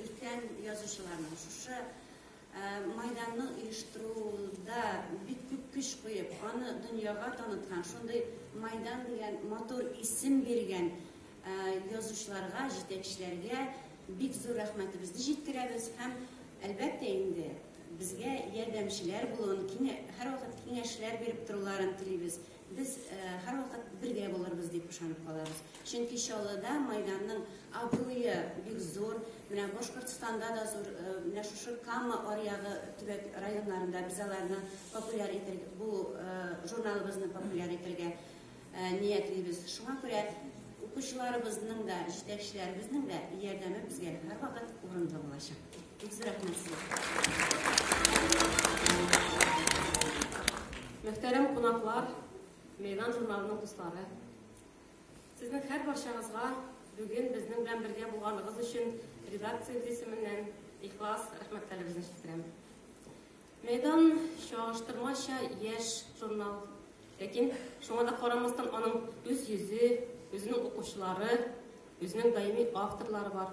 Өлкән язучыларның шушы майданны оештыруда бик күп көч куеп, аны дөньяга таныткан, шундый майдан дигән матур исем биргән язучыларга, җитәкчеләргә бик зур рәхмәтебезне җиткерәбез һәм әлбәттә инде безгә ярдәмчеләр булуын, һәрвакыт киңәшләр биреп торуларын телибез. Без һәрвакыт бергә булырбыз дип ышанып калабыз. Чөнки Чаллыда Майданның абруе бик зур, менә Башкортстанда да зур, менә шушы Кама аръягы төбәк районнарында без аларны популяр итер, бу журналыбызны популяр итергә ниятлибез. Шуңа күрә укучыларыбызның да, җитәкчеләребезнең дә ярдәме безгә һәрвакыт урынлы булачак. Мөхтәрәм кунаклар, Мейдан журналының дуслары. Сезнең һәр барчагызга бүген безнең белән бергә булганыгыз өчен редакциябез исеменнән ихлас рәхмәтләребезне җиткерәм. Мейдан чагыштырмача яшь журнал. Ләкин шуңа да карамастан аның үз йөзе, үзенең укучылары, үзенең даими авторлары бар.